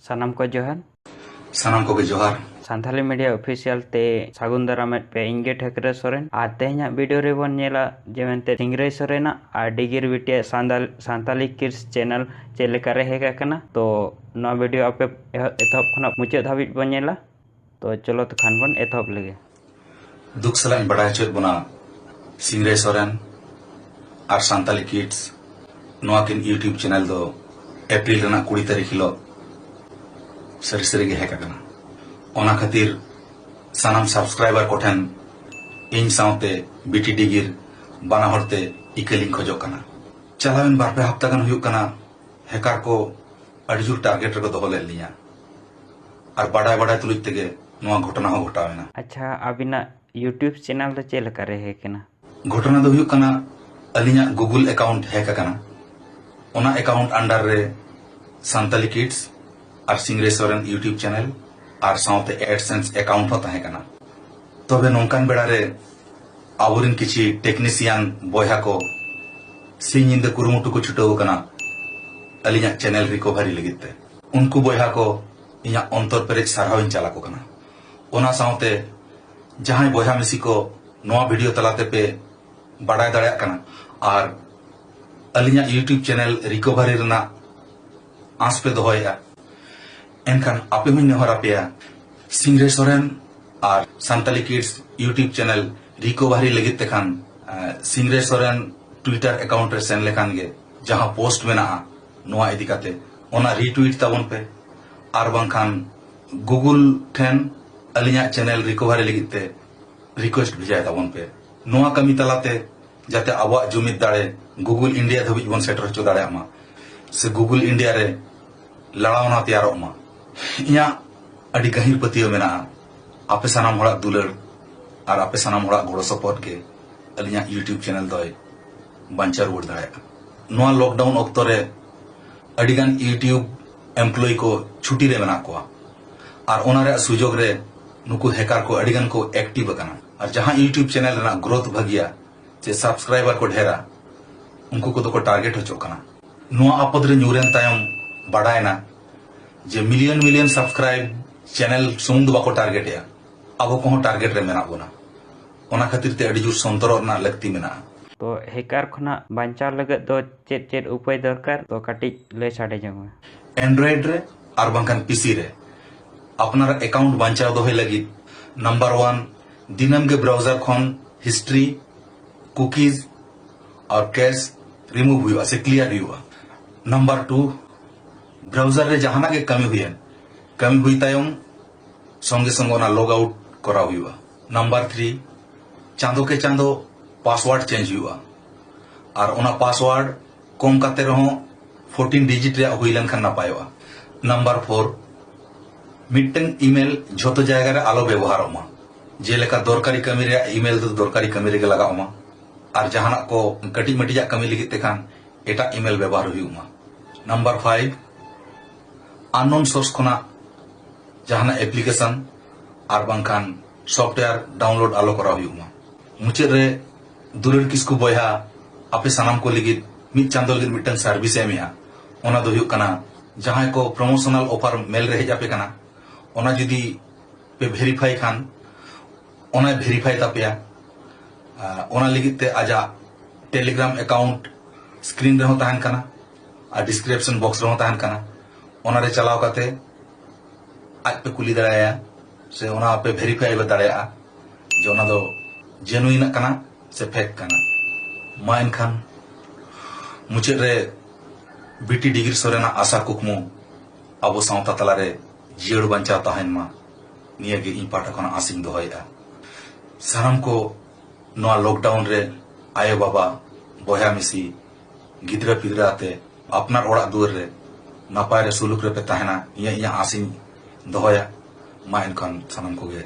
ᱥᱟᱱᱟᱢ ᱠᱚ ᱡᱚᱦᱟᱨ ᱥᱟᱱᱟᱢ ᱠᱚᱜᱮ ᱡᱚᱦᱟᱨ ᱥᱟᱱᱛᱷᱟᱞᱤ ᱢᱤᱰᱤᱭᱟ ᱚᱯᱷᱤᱥᱤᱭᱟᱞ ᱛᱮ ᱥᱟᱹᱜᱩᱱ ᱫᱟᱨᱟᱢᱮᱫ ᱯᱮ ᱤᱧ ᱜᱮ ᱴᱷᱟᱹᱠᱨᱟᱹ ᱥᱚᱨᱮᱱ ᱟᱨ ᱛᱮᱦᱮᱧᱟᱜ ᱵᱷᱤᱰᱤᱭᱳ ᱨᱮᱵᱚᱱ ᱧᱮᱞᱟ ᱡᱮ ᱢᱮᱱᱛᱮ ᱥᱤᱝᱨᱟᱹᱭ ᱥᱚᱨᱮᱱᱟᱜ ᱟᱨ ᱰᱤᱜᱤᱨ ᱵᱤᱴᱤᱭᱟᱜ ᱥᱟᱱᱛᱟᱞ ᱥᱟᱱᱛᱟᱞᱤ ᱠᱤᱨᱥ ᱪᱮᱱᱮᱞ ᱪᱮᱫ ᱞᱮᱠᱟᱨᱮ ᱦᱮᱡ ᱟᱠᱟᱱᱟ ᱛᱚ ᱱᱚᱣᱟ ᱵᱷᱤᱰᱤᱭᱳ ᱟᱯᱮ ᱮᱛᱚᱦᱚᱵ ᱠᱷᱚᱱᱟᱜ ᱢᱩᱪᱟᱹᱫ ᱫᱷᱟᱹᱵᱤᱡ ᱵᱚᱱ ᱧᱮᱞᱟ ᱛᱚ ᱪᱚᱞᱚ ᱛᱚ ᱠᱷᱟᱱ ᱵᱚᱱ ᱮᱛᱚᱦᱚᱵ ᱞᱮᱜᱮ ᱫᱩᱠ ᱥᱟᱞᱟᱜ ᱤᱧ ᱵᱟᱰᱟᱭ ᱦᱚᱪᱚᱭᱮᱫ ᱵᱚᱱᱟ ᱥᱤᱝᱨᱟᱹᱭ ᱥᱚᱨᱮᱱ ᱟᱨ ᱥᱟᱱᱛᱟᱞᱤ ᱠᱤᱰᱥ ᱱᱚᱣᱟ ᱠᱤᱱ ᱤᱭᱩᱴᱤᱭᱩᱵᱽ ᱪᱮᱱᱮᱞ ᱫᱚ ᱮᱯᱨᱤᱞ ᱨᱮᱱᱟᱜ ᱠᱩᱲᱤ ᱛᱟᱹᱨᱤᱠᱷ ᱦᱤᱞᱳᱜ ᱥᱟᱹᱨᱤ ᱥᱟᱹᱨᱤ ᱜᱮ ᱦᱮᱡ ᱟᱠᱟᱱᱟ ᱚᱱᱟ ᱠᱷᱟᱹᱛᱤᱨ ᱥᱟᱱᱟᱢ ᱥᱟᱵᱥᱠᱨᱟᱭᱵᱟᱨ ᱠᱚᱴᱷᱮᱱ ᱤᱧ ᱥᱟᱶᱛᱮ ᱵᱤᱴᱤ ᱰᱤᱜᱤᱨ ᱵᱟᱱᱟ ᱦᱚᱲᱛᱮ ᱤᱠᱟᱹᱞᱤᱧ ᱠᱷᱚᱡᱚᱜ ᱠᱟᱱᱟ ᱪᱟᱞᱟᱣᱮᱱ ᱵᱟᱨᱯᱮ ᱦᱟᱯᱛᱟ ᱜᱟᱱ ᱦᱩᱭᱩᱜ ᱠᱟᱱᱟ ᱦᱮᱠᱟᱨ ᱠᱚ ᱟᱹᱰᱤ ᱡᱳᱨ ᱴᱟᱨᱜᱮᱴ ᱨᱮᱠᱚ ᱫᱚᱦᱚ ᱞᱮᱫ ᱞᱤᱧᱟ ᱟᱨ ᱵᱟᱰᱟᱭ ᱵᱟᱰᱟᱭ ᱛᱩᱞᱩᱡ ᱛᱮᱜᱮ ᱱᱚᱣᱟ ᱜᱷᱚᱴᱚᱱᱟ ᱦᱚᱸ ᱜᱷᱚᱴᱟᱣ ᱮᱱᱟ ᱟᱪᱪᱷᱟ ᱟᱵᱤᱱᱟᱜ ᱭᱩᱴᱤᱭᱩᱵᱽ ᱪᱮᱱᱮᱞ ᱫᱚ ᱪᱮᱫ ᱞᱮᱠᱟ ᱨᱮ ᱦᱮᱠ ᱮᱱᱟ ᱜᱷᱚᱴᱚᱱᱟ ᱫᱚ ᱦᱩᱭᱩᱜ ᱠᱟᱱᱟ ᱟᱹᱞᱤᱧᱟᱜ ᱜᱩᱜᱩᱞ ᱮᱠᱟᱣᱩᱱᱴ ᱦᱮᱠ ᱟᱠᱟᱱᱟ ᱚᱱᱟ ᱮᱠᱟᱣᱩᱱᱴ ᱟᱱᱰᱟᱨ ᱨᱮ ᱥᱟᱱᱛᱟᱞᱤ ᱠᱤᱰᱥ ᱟᱨ ᱥᱤᱝᱨᱮ ᱥᱚᱨᱮᱱ ᱭᱩᱴᱤᱭᱩᱵᱽ ᱪᱮᱱᱮᱞ ᱟᱨ ᱥᱟᱶᱛᱮ ᱮᱰᱥᱮᱱᱥ ᱮᱠᱟᱣᱩᱱᱴ ᱦᱚᱸ ᱛᱟᱦᱮᱸ ᱠᱟᱱᱟ ᱛᱚᱵᱮ ᱱᱚᱝᱠᱟᱱ ᱵᱮᱲᱟ ᱨᱮ ᱟᱵᱚᱨᱮᱱ ᱠᱤᱪᱷᱤ ᱴᱮᱠᱱᱤᱥᱤᱭᱟᱱ ᱵᱚᱭᱦᱟ ᱠᱚ ᱥᱤᱧ ᱧᱤᱫᱟᱹ ᱠᱩᱨᱩᱢᱩᱴᱩ ᱠᱚ ᱪᱷᱩᱴᱟᱹᱣ ᱟᱠᱟᱱᱟ ᱟᱹᱞᱤᱧᱟᱜ ᱪᱮᱱᱮᱞ ᱨᱤᱠᱚᱵᱷᱟᱨᱤ ᱞᱟᱹᱜᱤᱫ ᱛᱮ ᱩᱱᱠᱩ ᱵᱚᱭᱦᱟ ᱠᱚ ᱤᱧᱟᱜ ᱚᱱᱛᱚᱨ ᱯᱮᱨᱮᱡ ᱥᱟᱨᱦᱟᱣ ᱤᱧ ᱪᱟᱞ ᱟᱠᱚ ᱠᱟᱱᱟ ᱚᱱᱟ ᱥᱟᱶᱛᱮ ᱡᱟᱦᱟᱸᱭ ᱵᱚᱭᱦᱟ ᱢᱤᱥᱤ ᱠᱚ ᱱᱚᱣᱟ ᱵᱷᱤᱰᱤᱭᱳ ᱛᱟᱞᱟᱛᱮ ᱯᱮ ᱵᱟᱰᱟᱭ ᱫᱟᱲᱮᱭᱟᱜ ᱠᱟᱱᱟ ᱟᱨ ᱟᱹᱞᱤᱧᱟᱜ ᱤᱭᱩᱴᱩᱵᱽ ᱪᱮᱱᱮᱞ ᱨᱤᱠᱚᱵᱷᱟᱨᱤ ᱨᱮᱱᱟᱜ ᱟᱸᱥ ᱯᱮ ᱫᱚᱦᱚᱭᱮᱫᱼᱟ ᱮᱱᱠᱷᱟᱱ ᱟᱯᱮ ᱦᱚᱸᱧ ᱱᱮᱦᱚᱨ ᱟᱯᱮᱭᱟ ᱥᱤᱝᱨᱮ ᱥᱚᱨᱮᱱ ᱟᱨ Santali kids YouTube channel recovery ᱞᱟᱹᱜᱤᱫ ᱛᱮᱠᱷᱟᱱ ᱥᱤᱝᱨᱮ ᱥᱚᱨᱮᱱ ᱴᱩᱭᱴᱟᱨ ᱮᱠᱟᱣᱩᱱᱴ ᱨᱮ ᱥᱮᱱ ᱞᱮᱠᱷᱟᱱ ᱜᱮ ᱡᱟᱦᱟᱸ ᱯᱳᱥᱴ ᱢᱮᱱᱟᱜᱼᱟ ᱱᱚᱣᱟ ᱤᱫᱤ ᱠᱟᱛᱮ ᱚᱱᱟ ᱨᱤᱴᱩᱭᱤᱴ ᱛᱟᱵᱚᱱ ᱯᱮ ᱟᱨ ᱵᱟᱝᱠᱷᱟᱱ ᱜᱩᱜᱩᱞ ᱴᱷᱮᱱ ᱟᱹᱞᱤᱧᱟᱜ ᱪᱮᱱᱮᱞ ᱨᱤᱠᱚᱵᱷᱟᱨᱤ ᱞᱟᱹᱜᱤᱫ ᱛᱮ ᱨᱤᱠᱣᱮᱥᱴ ᱵᱷᱮᱡᱟᱭ ᱛᱟᱵᱚᱱ ᱯᱮ ᱱᱚᱣᱟ ᱠᱟᱹᱢᱤ ᱛᱟᱞᱟᱛᱮ ᱡᱟᱛᱮ ᱟᱵᱚᱣᱟᱜ ᱡᱩᱢᱤᱫ ᱫᱟᱲᱮ ᱜᱩᱜᱩᱞ ᱤᱱᱰᱤᱭᱟ ᱫᱷᱟᱹᱵᱤᱡ ᱵᱚᱱ ᱥᱮᱴᱮᱨ ᱦᱚᱪᱚ ᱫᱟᱲᱮᱭᱟᱜ ᱢᱟ ᱥᱮ ᱜᱩᱜᱩᱞ ᱤᱱᱰᱤᱭᱟ ᱨᱮ ᱞᱟᱲᱟᱣᱱᱟ ᱛᱮᱭᱟᱨᱚᱜ ᱢᱟ ᱤᱧᱟᱹᱜ ᱟᱹᱰᱤ ᱜᱟᱹᱦᱤᱨ ᱯᱟᱹᱛᱭᱟᱹᱣ ᱢᱮᱱᱟᱜᱼᱟ ᱟᱯᱮ ᱥᱟᱱᱟᱢ ᱦᱚᱲᱟᱜ ᱫᱩᱞᱟᱹᱲ ᱟᱨ ᱟᱯᱮ ᱥᱟᱱᱟᱢ ᱦᱚᱲᱟᱜ ᱜᱚᱲᱚ ᱥᱚᱯᱚᱦᱚᱫ ᱜᱮ ᱟᱹᱞᱤᱧᱟᱜ ᱤᱭᱩᱴᱤᱭᱩᱵᱽ ᱪᱮᱱᱮᱞ ᱫᱚᱭ ᱵᱟᱧᱪᱟᱣ ᱨᱩᱣᱟᱹᱲ ᱫᱟᱲᱮᱭᱟᱜᱼᱟ ᱱᱚᱣᱟ ᱞᱚᱠᱰᱟᱣᱩᱱ ᱚᱠᱛᱚ ᱨᱮ ᱟᱹᱰᱤᱜᱟᱱ ᱤᱭᱩᱴᱤᱭᱩᱵᱽ ᱮᱢᱯᱞᱚᱭ ᱠᱚ ᱪᱷᱩᱴᱤ ᱨᱮ ᱢᱮᱱᱟᱜ ᱠᱚᱣᱟ ᱟᱨ ᱚᱱᱟ ᱨᱮᱭᱟᱜ ᱥᱩᱡᱳᱜᱽ ᱨᱮ ᱱᱩᱠᱩ ᱦᱮᱠᱟᱨ ᱠᱚ ᱟᱹᱰᱤᱜᱟᱱ ᱠᱚ ᱮᱠᱴᱤᱵᱽ ᱟᱠᱟᱱᱟ ᱟᱨ ᱡᱟᱦᱟᱸ ᱭᱩᱴᱩᱵᱽ ᱪᱮᱱᱮᱞ ᱨᱮᱱᱟᱜ ᱜᱨᱳᱛᱷ ᱵᱷᱟᱹᱜᱤᱭᱟ ᱪᱮ ᱥᱟᱵᱥᱠᱨᱟᱭᱵᱟᱨ ᱠᱚ ᱰᱷᱮᱨᱟ ᱩᱱᱠᱩ ᱠᱚᱫᱚ ᱠᱚ ᱴᱟᱨᱜᱮᱴ ᱦᱚᱪᱚᱜ ᱠᱟᱱᱟ ᱱᱚᱣᱟ ᱟᱯᱚᱫ ᱨᱮ ᱧᱩᱨᱮᱱ ᱛᱟᱭᱚᱢ ᱵᱟᱰᱟᱭᱮᱱᱟ ᱡᱮ ᱢᱤᱞᱤᱭᱚᱱ ᱢᱤᱞᱤᱭᱚᱱ ᱥᱟᱵᱥᱠᱨᱟᱭᱤᱵ ᱪᱮᱱᱮᱞ ᱥᱩᱢᱩᱝ ᱫᱚ ᱵᱟᱠᱚ ᱴᱟᱨᱜᱮᱴᱮᱜᱼᱟ ᱟᱵᱚ ᱠᱚᱦᱚᱸ ᱴᱟᱨᱜᱮᱴ ᱨᱮ ᱢᱮᱱᱟᱜ ᱵᱚᱱᱟ ᱚᱱᱟ ᱠᱷᱟᱹᱛᱤᱨ ᱛᱮ ᱟᱹᱰᱤ ᱡᱳᱨ ᱥᱚᱱᱛᱚᱨᱚᱜ ᱨᱮᱱᱟᱜ ᱞᱟᱹᱠᱛᱤ ᱢᱮᱱᱟᱜᱼᱟ ᱛᱚ ᱦᱮᱠᱟᱨ ᱠᱷᱚᱱᱟᱜ ᱵᱟᱧᱪᱟᱣ ᱞᱟᱹᱜᱤᱫ ᱫᱚ ᱪᱮᱫ ᱪᱮᱫ ᱩᱯᱟᱹᱭ ᱫᱚᱨᱠᱟᱨ ᱛᱚ ᱠᱟᱹᱴᱤᱡ ᱞᱟᱹᱭ ᱥᱟᱰᱮ ᱡᱚᱝ ᱢᱮ ᱮᱱᱰᱨᱚᱭᱮᱰ ᱨᱮ ᱟᱨ ᱵᱟᱝᱠᱷᱟᱱ ᱯᱤᱥᱤ ᱨᱮ ᱟᱯᱱᱟᱨᱟᱜ ᱮᱠᱟᱣᱩᱱᱴ ᱵᱟᱧᱪᱟᱣ ᱫᱚᱦᱚᱭ ᱞᱟᱹᱜᱤᱫ ᱱᱟᱢᱵᱟᱨ ᱣᱟᱱ ᱫᱤᱱᱟᱹᱢ ᱜᱮ ᱵᱨᱟᱣᱡᱟᱨ ᱠᱷᱚᱱ ᱦᱤᱥᱴᱨᱤ ᱠᱩᱠᱤᱡᱽ ᱟᱨ ᱠᱮᱥ ᱨᱤᱢᱩᱵᱷ ᱦᱩᱭᱩᱜᱼᱟ ᱥᱮ ᱠᱞᱤᱭᱟᱨ ᱦᱩᱭᱩᱜᱼᱟ ᱱᱟᱢᱵᱟᱨ ᱴᱩ ᱵᱨᱟᱣᱡᱟᱨ ᱨᱮ ᱡᱟᱦᱟᱱᱟᱜ ᱜᱮ ᱠᱟᱹᱢᱤ ᱦᱩᱭᱮᱱ ᱠᱟᱹᱢᱤ ᱦᱩᱭ ᱛᱟᱭᱚᱢ ᱥᱚᱝᱜᱮ ᱥᱚᱝᱜᱮ ᱚᱱᱟ ᱞᱚᱜ ᱟᱣᱩᱴ ᱠᱚᱨᱟᱣ ᱦᱩᱭᱩᱜᱼᱟ ᱱᱟᱢᱵᱟᱨ ᱛᱷᱨᱤ ᱪᱟᱸᱫᱚ ᱠᱮ ᱪᱟᱸᱫᱚ ᱯᱟᱥᱣᱟᱨᱰ ᱪᱮᱧᱡᱽ ᱦᱩᱭᱩᱜᱼᱟ ᱟᱨ ᱚᱱᱟ ᱯᱟᱥᱣᱟᱨᱰ ᱠᱚᱢ ᱠᱟᱛᱮ ᱨᱮᱦᱚᱸ ᱯᱷᱳᱨᱴᱤᱱ ᱰᱤᱡᱤᱴ ᱨᱮᱭᱟᱜ ᱦᱩᱭ ᱞᱮᱱᱠᱷᱟᱱ ᱱᱟᱯᱟᱭᱚᱜᱼᱟ ᱱᱟᱢᱵᱟᱨ ᱯᱷᱳᱨ ᱢᱤᱫᱴᱟᱝ ᱤᱢᱮᱞ ᱡᱷᱚᱛᱚ ᱡᱟᱭᱜᱟ ᱨᱮ ᱟᱞᱚ ᱵᱮᱵᱚᱦᱟᱨᱚᱜ ᱢᱟ ᱡᱮᱞᱮᱠᱟ ᱫᱚᱨᱠᱟᱨᱤ ᱠᱟᱹᱢᱤ ᱨᱮᱭᱟᱜ ᱤᱢᱮᱞ ᱫᱚ ᱫᱚᱨᱠᱟᱨᱤ ᱠᱟᱹᱢᱤ ᱨᱮᱜᱮ ᱞᱟᱜᱟᱜ ᱢᱟ ᱟᱨ ᱡᱟᱦᱟᱱᱟᱜ ᱠᱚ ᱠᱟᱹᱴᱤᱡ ᱢᱟᱹᱴᱤᱡᱟᱜ ᱠᱟᱹᱢᱤ ᱞᱟᱹᱜᱤᱫ ᱛᱮᱠᱷᱟᱱ ᱮᱴᱟᱜ ᱤᱢᱮᱞ ᱵᱮᱵᱚᱦᱟᱨ ᱦᱩᱭᱩᱜ ᱢᱟ ᱱᱟᱢᱵᱟᱨ ᱯᱷᱟᱭᱤᱵᱷ ᱟᱱᱱᱳᱱ ᱥᱳᱨᱥ ᱠᱷᱚᱱᱟᱜ ᱡᱟᱦᱟᱱᱟᱜ ᱮᱯᱞᱤᱠᱮᱥᱚᱱ ᱟᱨ ᱵᱟᱝᱠᱷᱟᱱ ᱥᱚᱯᱷᱴᱣᱮᱭᱟᱨ ᱰᱟᱣᱩᱱᱞᱳᱰ ᱟᱞᱚ ᱠᱚᱨᱟᱣ ᱦᱩᱭᱩᱜ ᱢᱟ ᱢᱩᱪᱟᱹᱫ ᱨᱮ ᱫᱩᱞᱟᱹᱲ ᱠᱤᱥᱠᱩ ᱵᱚᱭᱦᱟ ᱟᱯᱮ ᱥᱟᱱᱟᱢ ᱠᱚ ᱞᱟᱹᱜᱤᱫ ᱢᱤᱫ ᱪᱟᱸᱫᱚ ᱞᱟᱹᱜᱤᱫ ᱢᱤᱫᱴᱟᱝ ᱥᱟᱨᱵᱷᱤᱥ ᱮᱢᱮᱜᱼᱟ ᱚᱱᱟ ᱫᱚ ᱦᱩᱭᱩᱜ ᱠᱟᱱᱟ ᱡᱟᱦᱟᱸᱭ ᱠᱚ ᱯᱨᱚᱢᱳᱥᱚᱱᱟᱞ ᱚᱯᱷᱟᱨ ᱢᱮᱞ ᱨᱮ ᱦᱮᱡ ᱟᱯᱮ ᱠᱟᱱᱟ ᱚᱱᱟ ᱡᱩᱫᱤ ᱯᱮ ᱵᱷᱮᱨᱤᱯᱷᱟᱭ ᱠᱷᱟᱱ ᱚᱱᱟᱭ ᱵᱷᱮᱨᱤᱯᱷᱟᱭ ᱛᱟᱯᱮᱭᱟ ᱚᱱᱟ ᱞᱟᱹᱜᱤᱫ ᱛᱮ ᱟᱡᱟᱜ ᱴᱮᱞᱤᱜᱨᱟᱢ ᱮᱠᱟᱣᱩᱱᱴ ᱥᱠᱨᱤᱱ ᱨᱮᱦᱚᱸ ᱛᱟᱦᱮᱱ ᱠᱟᱱᱟ ᱟᱨ ᱰᱤᱥᱠᱨᱤᱯᱥᱚᱱ ᱵᱚᱠᱥ ᱨᱮᱦᱚᱸ ᱛᱟᱦᱮᱱ ᱠᱟᱱᱟ ᱚᱱᱟ ᱨᱮ ᱪᱟᱞᱟᱣ ᱠᱟᱛᱮ ᱟᱡ ᱯᱮ ᱠᱩᱞᱤ ᱫᱟᱲᱮᱭᱟᱭᱟ ᱥᱮ ᱚᱱᱟ ᱯᱮ ᱵᱷᱮᱨᱤᱯᱷᱟᱭ ᱫᱟᱲᱮᱭᱟᱜᱼᱟ ᱡᱮ ᱚᱱᱟ ᱫᱚ ᱡᱮᱱᱩᱭᱤᱱ ᱠᱟᱱᱟ ᱥᱮ ᱯᱷᱮᱠ ᱠᱟᱱᱟ ᱢᱟ ᱮᱱᱠᱷᱟᱱ ᱢᱩᱪᱟᱹᱫ ᱨᱮ ᱵᱤᱴᱤ ᱰᱤᱜᱨᱤ ᱥᱚᱨᱮᱱᱟᱜ ᱟᱥᱟ ᱠᱩᱠᱢᱩ ᱟᱵᱚ ᱥᱟᱶᱛᱟ ᱛᱟᱞᱟᱨᱮ ᱡᱤᱭᱟᱹᱲ ᱵᱟᱧᱪᱟᱣ ᱛᱟᱦᱮᱱ ᱢᱟ ᱱᱤᱭᱟᱹ ᱜᱮ ᱤᱧ ᱯᱟᱦᱴᱟ ᱠᱷᱚᱱᱟᱜ ᱟᱥᱤᱧ ᱫᱚᱦᱚᱭᱮᱫᱼᱟ ᱥᱟᱱᱟᱢ ᱠᱚ ᱱᱚᱣᱟ ᱞᱚᱠᱰᱟᱣᱩᱱ ᱨᱮ ᱟᱭᱳ ᱵᱟᱵᱟ ᱵᱚᱭᱦᱟ ᱢᱤᱥᱤ ᱜᱤᱫᱽᱨᱟᱹ ᱯᱤᱫᱽᱨᱟᱹ ᱟᱛᱮ ᱟᱯᱱᱟᱨ ᱚᱲᱟᱜ ᱫᱩᱣᱟᱹᱨ ᱨᱮ ᱱᱟᱯᱟᱭ ᱨᱮ ᱥᱩᱞᱩᱠ ᱨᱮᱯᱮ ᱛᱟᱦᱮᱱᱟ ᱱᱤᱭᱟᱹ ᱤᱧᱟᱹᱜ ᱟᱸᱥ ᱤᱧ ᱫᱚᱦᱚᱭᱟ ᱢᱟ ᱮᱱᱠᱷᱟᱱ ᱥᱟᱱᱟᱢ ᱠᱚᱜᱮ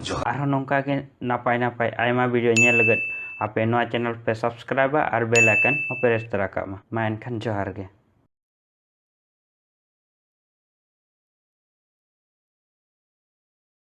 ᱡᱚᱦᱟᱨ ᱟᱨᱦᱚᱸ ᱱᱚᱝᱠᱟ ᱜᱮ ᱱᱟᱯᱟᱭ ᱱᱟᱯᱟᱭ ᱟᱭᱢᱟ ᱵᱷᱤᱰᱤᱭᱳ ᱧᱮᱞ ᱞᱟᱹᱜᱤᱫ ᱟᱯᱮ ᱱᱚᱣᱟ ᱪᱮᱱᱮᱞ ᱯᱮ ᱥᱟᱵᱥᱠᱨᱟᱭᱤᱵᱟ ᱟᱨ ᱵᱮᱞ ᱟᱭᱠᱚᱱ ᱦᱚᱸ ᱯᱮ ᱨᱮᱥ ᱛᱚᱨᱟ ᱠᱟᱜ ᱢᱟ ᱢᱟ ᱮᱱᱠᱷᱟᱱ ᱡᱚᱦᱟᱨ ᱜᱮ